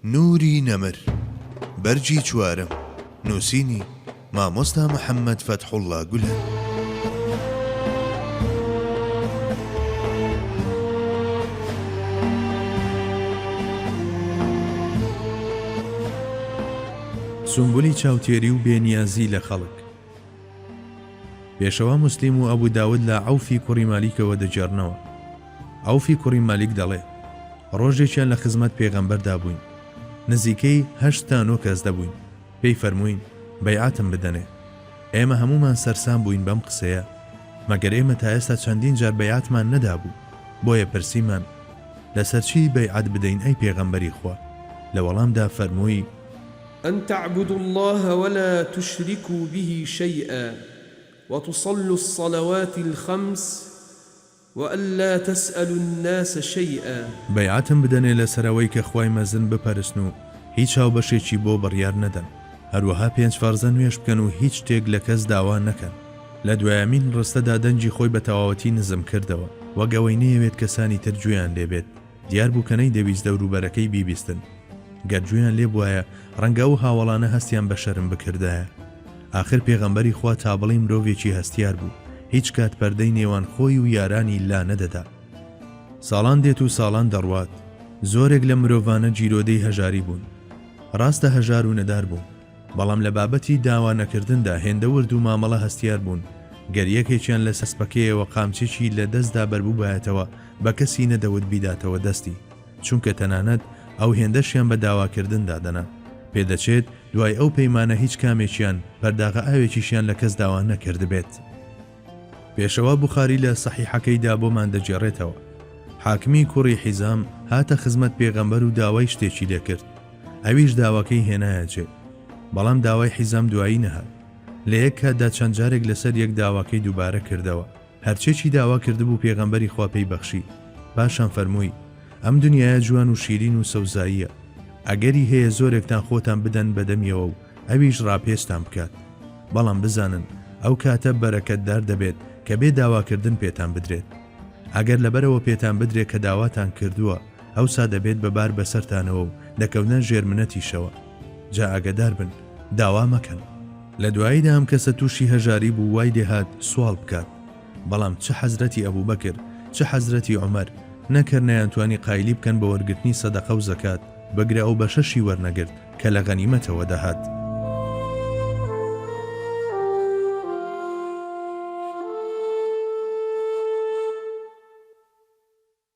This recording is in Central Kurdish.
نوری نەمر، بەرگی چوارەم، نووسینی، مامۆستا محەممەد فەتحوڵڵا گولەن. سومبولی چاوتێری و بێنیازی لە خەڵک. پێشەوا موسلیم و ئەبو داود لە، عەوفی کوڕی مالیکەوە، دەگێڕنەوە، عەوفی کوڕی مالیک دەڵێ، ڕۆژێکیان لە خزمەت پێغەمبەردا بووین، نزیکەی هەشت تا نۆ کەس دەبووین، پێی فەرمووین بەیعەتم بدەنێ، ئێمە هەموومان سەرسام بووین بەم قسەیە، مەگەر ئێمە تا ئێستا چەندین جار بەیعەتمان نەدابوو، بۆیە پرسیمان، لەسەر چی بەیعەت بدەین ئەی پێغەمبەری خوا؟ لە وەڵامدا فەرمووی، ان تعبدوا اللە ولا تشرکوا به شیئا وتصلوا الصلوات الخمس وان لا تسالوا الناس شیئا. بەیعەتم بدەنێ لەسەر ئەوەی کە خوای مەزن بپەرستن و هیچ هاوبەشێکی بۆ بڕیار نەدەن، هەروەها پێنج فەرزە نوێژ بکەن و هیچ شتێک لە کەس داوا نەکەن. لە دوایەمین ڕستەدا دەنگی خۆی بە تەواوەتی نزم کردەوە، وەک ئەوەی نەیەوێت کەسانی تر گوێیان لێ بێت. دیار بوو کە نەیدەویست دەوروبەرەکەی بیبیستن. گەر گوێیان لێ بوایە، ڕەنگە ئەو هاوەڵانە هەستیان بە شەرم بکردایە. ئاخر پێغەمبەری خوا تا بڵێی مرۆڤێکی هەستیار بوو، هیچ کات پەردەی نێوان خۆی و یارانی لا نەدەدا. ساڵان دێت و ساڵان دەڕوات. زۆرێک لەم مرۆڤانە گیرۆدەی هەژاری بوون. ڕاستە هەژار و نەدار بوون. بەڵام لە بابەتی داوا نەکردندا هێندە ورد و مامەڵە هەستیار بوون، گەر یەکێکیان لە سەسپەکەیەوە قامچێکی لە دەستدا بەربووبایەتەوە بە کەسی نەدەوت بیداتەوە دەستی، چونکە تەنانەت ئەو هێندەشیان بە داواکردن دادەنا. پێدەچێت دوای ئەو پەیمانە هیچ کامێکیان پەرداغە ئاوێکیشیان لە کەس داوا نەکردبێت. پێشەوا بوخاری لە سەحیحەکەیدا بۆمان دەگێڕێتەوە، حاکمی کوڕی حیزام هاتە خزمەت پێغەمبەر و داوای شتێکی لێ کرد، ئەویش داواکەی هێنایە جێ، بەڵام داوای حیزام دوایی نەهات، لە یەک کاتدا چەند جارێک لەسەر یەک داواکەی دووبارە کردەوە، هەرچێکی داوا کردبوو پێغەمبەری خوا پێی بەخشی، پاشان فەرمووی، ئەم دنیایە جوان و شیرین و سەوزاییە، ئەگەری هەیە زۆرێکتان خۆتان بدەن بە دەمیەوە و ئەویش ڕاپێچتان بکات، بەڵام بزانن ئەو کاتە بەرەکەتدار دەبێت کە بێ داواکردن پێتان بدرێت. ئەگەر لەبەرەوە پێتان بدرێت کە داواتان کردووە، ئەوسا دەبێت بە بار بەسەرتانەوە و دەکەونە ژێر منەتیشەوە. جا ئاگەدار بن، داوا مەکەن. لە دواییدا ئەم کەسە تووشی هەژاری بوو وای لێ هات سواڵ بکات، بەڵام چ حەزرەتی ئەبوبەکر، چ حەزرەتی عومەر، نەک هەر نەیانتوانی قایلی بکەن بە وەرگرتنی سەدەقە و زەکات، بگرە ئەو بەشەشی وەرنەگرت. کە لە غەنیمەتەوە دەهات.